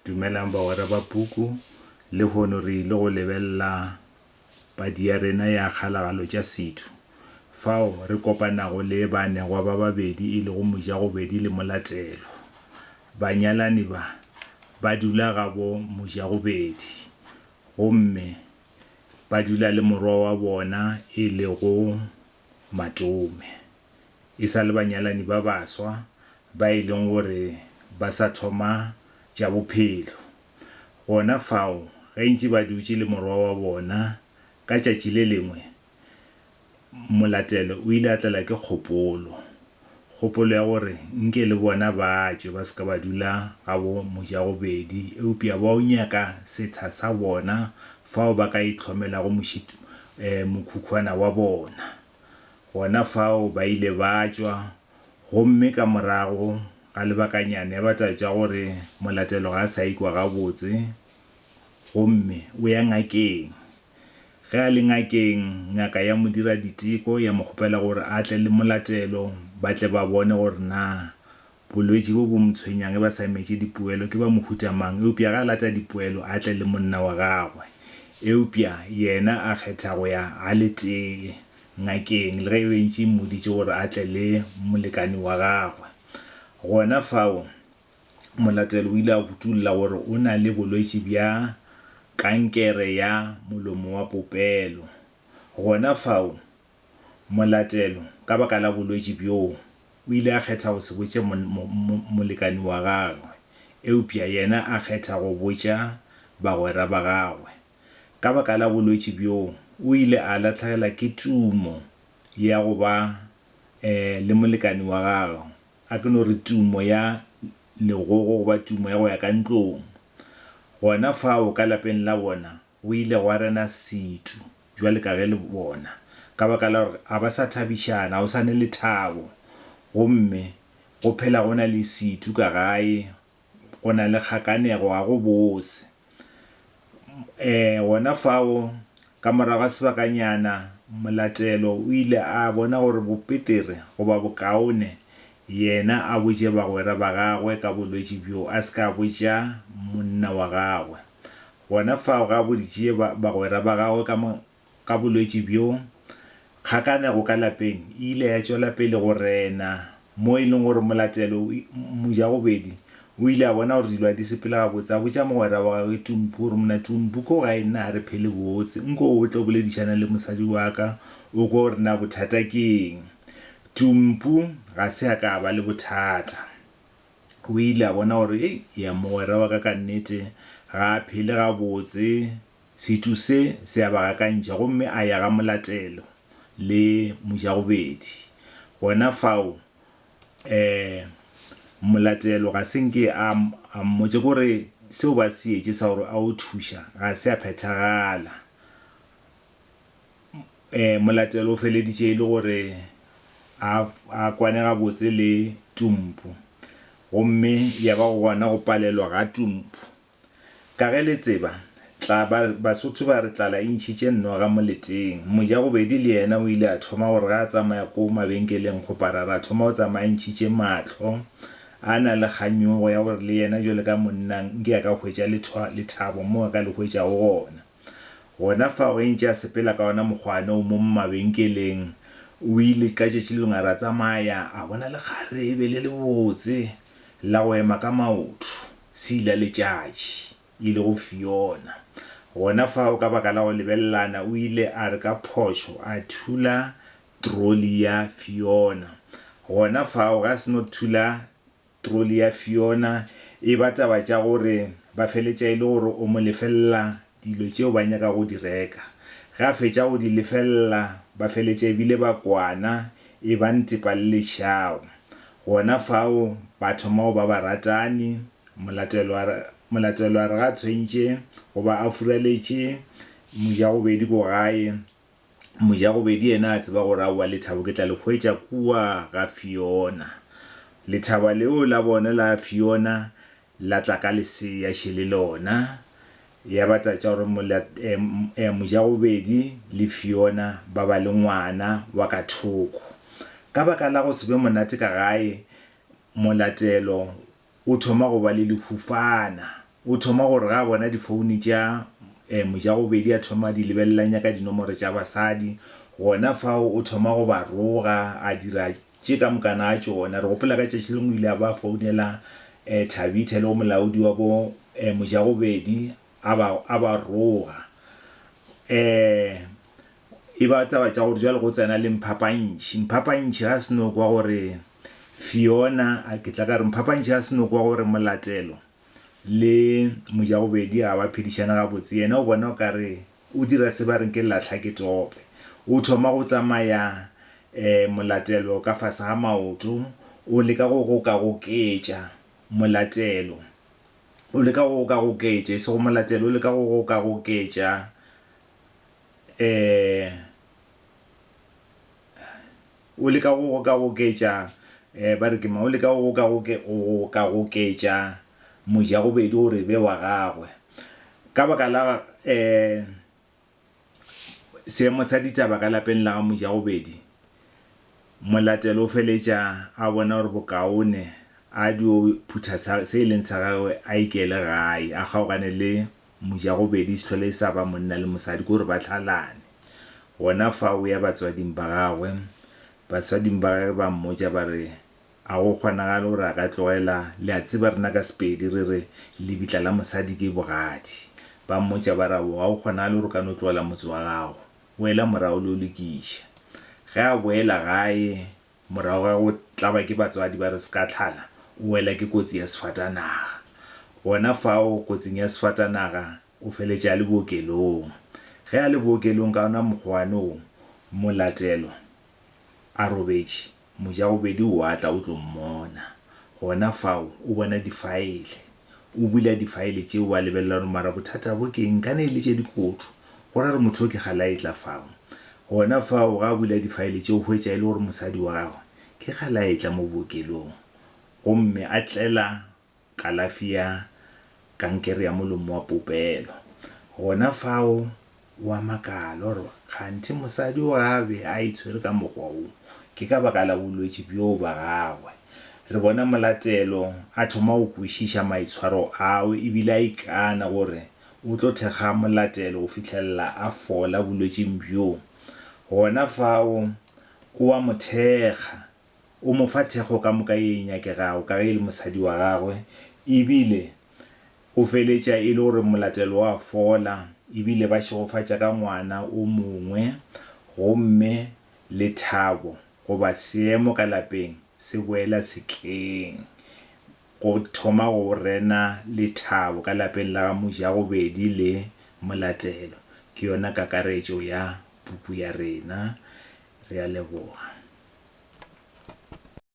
Dumelang bagwera ba puku. Lehono re ile go lebelela padi ya rena ya Kgalagalo tša Setho, fao re kopanago le baanegwa ba babedi e lego Mojagobedi le Molatelwa. Banyalani ba, ba dula gabo Mojagobedi gomme ba dula le morwa wa bona e lego Matome. e sa le banyalani ba baswa ba e leng gore ba sa thoma tša bophelo. Gona fao ge ntše ba dutše le morwa wa bona, ka tšatši le lengwe Molatelo o ile a tlelwa ke kgopolo, kgopolo ya gore nke le bona ba tšwe ba se ka ba dula gabo Mojagobedi eupša ba yo nyaka setsha sa bona fao ba ka itlhomelago mokhukwana wa bona. Gona fao ba ile ba tšwa, gomme ka morago ga lebakanyane ba tla tšwa gore molatelo ga a sa ikwa gabotse, gomme o ya ngakeng. Ge a le ngakeng, ngaka ya mo dira diteko, ya mo kgopela gore a tle le molatelo, ba tle ba bone gore na Bolwetši bjo bo mo tshwenyang e ba sa metše dipoelo ke ba mohuta mang? Eupša ga a lata dipoelo a tle le monna wa gagwe. Eupša yena a kgetha go ya a le tee ngakeng, le ge e be e ntše e mmoditše gore a tle le molekane wa gagwe. Gona fao molatelo o ile a kutollola gore o na le bolwetši bja kankere ya molomo wa popelo. Gona fao molatelo ka baka la bolwetši bjoo, o ile a kgetha go se botše molekani wa gagwe, eupša yena a kgetha go botša bagwera ba gagwe. Ka baka la bolwetši bjoo, o ile a lahlegelwa ke tumo ya go ba le molekani wa gagwe, a ke no re tumo ya legogo goba tumo ya go ya ka ntlong. Gona fao ka lapeng la bona O ile gwa rena setu, bjale ka ge le bona, ka baka la gore ga ba sa thabišana, ga go sa ne lethabo. Gomme go phela go na le setu ka gae, go na le kgakanego, ga go bose. E, gona fao, ka morago ga sebakanyana, molatelo o ile a bona gore bo petere goba bokaone yena a botše bagwera ba gagwe ka bolwetši bjo a se ka botša monna wa gagwe. Gona fao ge a boditšie bagwera ba gagwe ka ka bolwetši bjo, kgakanego ka lapeng e ile ya tšwela pele go rena, mo e leng gore molatelo mojagobedi o ile a bona gore dilo ga di sepele gabotse, a botša mogwera wa gagwe Tumpu gore, Mna Tumpu, ko gae nna ga re phele botse, nko o tle o boledišane le mosadi wa ka o kwe gore na bothata ke eng. Tumpu ga se a ka a ba le bothata. o ile a bona gore, Hei, ya mogwera wa ka ka nnete ga a phele gabotse. Setšo se se a ba gakantšha. Gomme a ya ga molatelo le mojagobedi. Gona fao, um molatelo ga se nke a, a mmotša ke gore seo ba se etše sa gore a o thuša ga se a phethagala. Molatelo o feleditše e le gore a a kwane gabotse le Tumpu, gomme ya ba gona go palelwa ga Tumpu. Ka ge le tseba, tla ba, Basotho ba re tlala e ntšhitše noga moleteng. Mojagobedi le yena o ile a thoma gore ge a tsamaya ko mabenkeleng kgoparara a thoma go tsamaya a ntšhitše mahlo, a na le kganyogo ya gore le yena bjalo ka monna nke a ka hwetša lethabo moo a ka le hwetšago gona. Gona fao ge ntše a sepela ka ona mokgwane o mo mabenkeleng, o ile ka tšatši le lengwe a re a tsamaya a bona lekgarebe le lebotse la go ema ka maoto, se ile a letšatši, e lego Fiona. Gona fao ka baka la go lebelelana o ile a re ka phošo a thula trolly ya Fiona. Gona fao ge a seno thula. Troli ya Fiona e ba taba tša gore ba feletša e le gore o mo lefelela dilo tšeo ba nyaka go di reka. Ge a fetša go di lefelela, ba feletša e bile ba kwana, e ba ntepa le lešao. Gona fao ba thoma go ba baratani. Molatelwa re ge a tshwentše go ba a furaletše mojagobedi ko gae, Mojagobedi yena a tseba gore aowa lethabo ke tla le hwetša kua ga Fiona. Lethaba leo la bona la Fiona la tla ka lesea še le lona. Ya ba tša tša gore Mojagobedi le Fiona ba ba le ngwana wa ka thoko. Ka baka la go se be monate ka gae, Molatelo o thoma go ba le lehufana. O thoma gore ga a bona difoune tša Mojagobedi a thoma a di lebelela a nyaka dinomoro tša basadi. Gona fao o thoma go ba roga a dira tše ka mokana a tšona. Re gopola ka tšatši lengwe o ile a ba founela Thabitha e lego molaodi wa bo Mojagobedi a ba roga. E ba taba tša gore jwale go tsena le Mphapantšhi. Mphapantšhi ga se no kwa gore Fiona, a ke tla ka re Mphapantšhi ga se no kwa gore Molatelo le Mojagobedi ga ba phedišane gabotse. Yena o bona o ka re o dira se ba reng ke lahla ke tope. O thoma go tsamaya um Molatelo ka fase ga maoto, o leka go gokagoketša Molatelo, o leka go gokagoketša, e sego Molatelo, o leka go gokagoketša. O leka go gokagoketša, ba re ke mang, o leka go gokagoketša mojagobedi gore e be wa gagwe. Ka baka la seemo sa ditaba ka lapeng la ga mojagobedi, Molatelo o feletša a bona gore bokaone a dio phutha se e leng sa gagwe a ikele gae, a kgaogane le Mojagobedi se tlhole e sa ba monna le mosadi, ke gore ba tlhalane. Gona fa o ya batswading ba gagwe, batswading ba gagwe ba mmotša ba re, A go kgonagale gore a ka tlogela, le a tseba rena ka Sepedi re re, lebitla la mosadi ke bogadi. Ba mmotša ba re, Ao, ga go kgonagale gore o ka no tlogela motse wa gago. Boela morago o lo lokiša. Ge a boela gae, Morago ga go tlaba ke batswadi ba re Sekatlhala o wela ke kotsi ya sefatanaga. Gona fao kotsing ya sefatanaga o feletše a le bookelong. Ge a le bookelong ka ona mokgowane wo, Molatelo a robetše, Mojagobedi o a tla o tlo mmona. Gona fao o bona difaele. O bula difaele tšeo wa lebelela gore mara bothata bo ke eng, kana e le tše dikoto. Go ra gore motho yo ke ga la etla fao. Gona fao ga a bula difaele tšeo o hwetša e le gore mosadi wa gagwe ke ga la etla mo bookelong gomme a tlela kalafi ya kankere ya molomo wa popelo. Gona fao Wa makala, o re, Kganthe mosadi o a be a itshwere ka mokgwa wo, ke ka baka la bolwetši bjoo bja gagwe. Re bona molatelo a thoma go kwešiša maitshwaro ao e bile a ikana gore o tlo thekga molatelo go fihlelela a fola bolwetšing bjoo. Gona fao o a mo thekga. O mo fa thekgo ka moka ye e nyakegago ka ge e le mosadi wa gagwe e bile Go feletša e le gore molatelo wa fola e bile ba šegofatša ka ngwana o mongwe gomme lethabo goba seemo ka lapeng se boela setleng. Go thoma go rena lethabo ka lapeng la ga Mojagobedi le molatelo ke yona kakaretšo ya puku ya rena. Re a leboga.